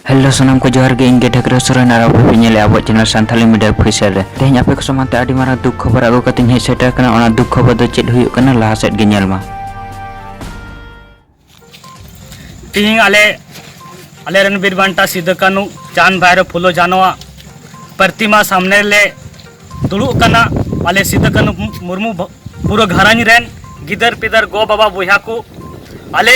hello ᱥᱟᱱᱟᱢ ᱠᱚ ᱡᱚᱦᱟᱨ ᱜᱮ ᱤᱧ ᱜᱮ ᱰᱷᱟᱠᱨᱟ ᱥᱚᱨᱮᱱ ᱟᱨ ᱟᱯᱮ ᱯᱮ ᱧᱮᱞᱮᱫ ᱟᱵᱚᱣᱟᱜ ᱪᱮᱱᱮᱞ ᱥᱟᱱᱛᱷᱟᱞᱤ ᱢᱤᱰᱤᱭᱟ ᱯᱷᱤᱥᱟᱨ ᱨᱮ ᱛᱮᱦᱮᱧ ᱟᱯᱮ ᱠᱚ ᱥᱟᱢᱟᱝ ᱛᱮ ᱟᱹᱰᱤ ᱢᱟᱨᱟᱝ ᱫᱩᱠ ᱠᱷᱚᱵᱚᱨ ᱟᱹᱜᱩ ᱠᱟᱛᱮ ᱤᱧ ᱦᱮᱡ ᱥᱮᱴᱮᱨ ᱠᱟᱱᱟ ᱚᱱᱟ ᱫᱩᱠ ᱠᱷᱚᱵᱚᱨ ᱫᱚ ᱪᱮᱫ ᱦᱩᱭᱩᱜ ᱠᱟᱱᱟ ᱞᱟᱦᱟ ᱥᱮᱫ ᱜᱮ ᱧᱮᱞ ᱢᱟ ᱛᱮᱦᱮᱧ ᱟᱞᱮ ᱟᱞᱮ ᱨᱮᱱ ᱵᱤᱨ ᱵᱟᱱᱴᱟ ᱥᱤᱫᱩ ᱠᱟᱹᱱᱩ ᱪᱟᱸᱫᱽ ᱵᱷᱟᱭᱨᱚ ᱯᱷᱩᱞᱳ ᱡᱷᱟᱱᱚᱣᱟᱜ ᱯᱨᱚᱛᱤᱢᱟ ᱥᱟᱢᱱᱮ ᱨᱮᱞᱮ ᱫᱩᱲᱩᱵ ᱠᱟᱱᱟ ᱟᱞᱮ ᱥᱤᱫᱩ ᱠᱟᱹᱱᱩ ᱢᱩᱨᱢᱩ ᱯᱩᱨᱟᱹ ᱜᱷᱟᱨᱚᱸᱡᱽ ᱨᱮᱱ ᱜᱤᱫᱟᱹᱨ ᱯᱤᱫᱟᱹᱨ ᱜᱚ ᱵᱟᱵᱟ ᱵᱚᱭᱦᱟ ᱠᱚ ᱟᱞᱮ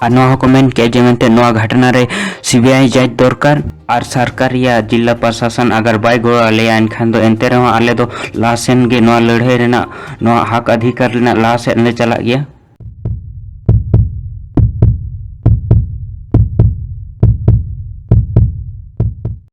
ᱟᱨ ᱱᱚᱣᱟ ᱦᱚᱸᱠᱚ ᱢᱮᱱ ᱠᱮᱜᱼᱟ ᱡᱮ ᱢᱮᱱᱛᱮ ᱱᱚᱣᱟ ᱜᱷᱟᱴᱱᱟ ᱨᱮ ᱥᱤᱵᱤᱟᱭ ᱡᱟᱸᱪ ᱫᱚᱨᱠᱟᱨ ᱟᱨ ᱥᱚᱨᱠᱟᱨ ᱨᱮᱭᱟᱜ ᱡᱤᱞᱟ ᱯᱨᱚᱥᱟᱥᱚᱱ ᱟᱜᱟᱨ ᱵᱟᱭ ᱜᱚᱲᱚ ᱟᱞᱮᱭᱟ ᱮᱱᱠᱷᱟᱱ ᱫᱚ ᱮᱱᱛᱮ ᱨᱮᱦᱚᱸ ᱟᱞᱮ ᱫᱚ ᱞᱟᱦᱟ ᱥᱮᱱ ᱜᱮ ᱱᱚᱣᱟ ᱞᱟᱹᱲᱦᱟᱹᱭ ᱨᱮᱱᱟᱜ ᱱᱚᱣᱟ ᱦᱟᱠ ᱟᱫᱷᱤᱠᱟᱨ ᱨᱮᱱᱟᱜ ᱞᱟᱦᱟ ᱥᱮᱫ ᱞᱮ ᱪᱟᱞᱟᱜ ᱜᱮᱭᱟ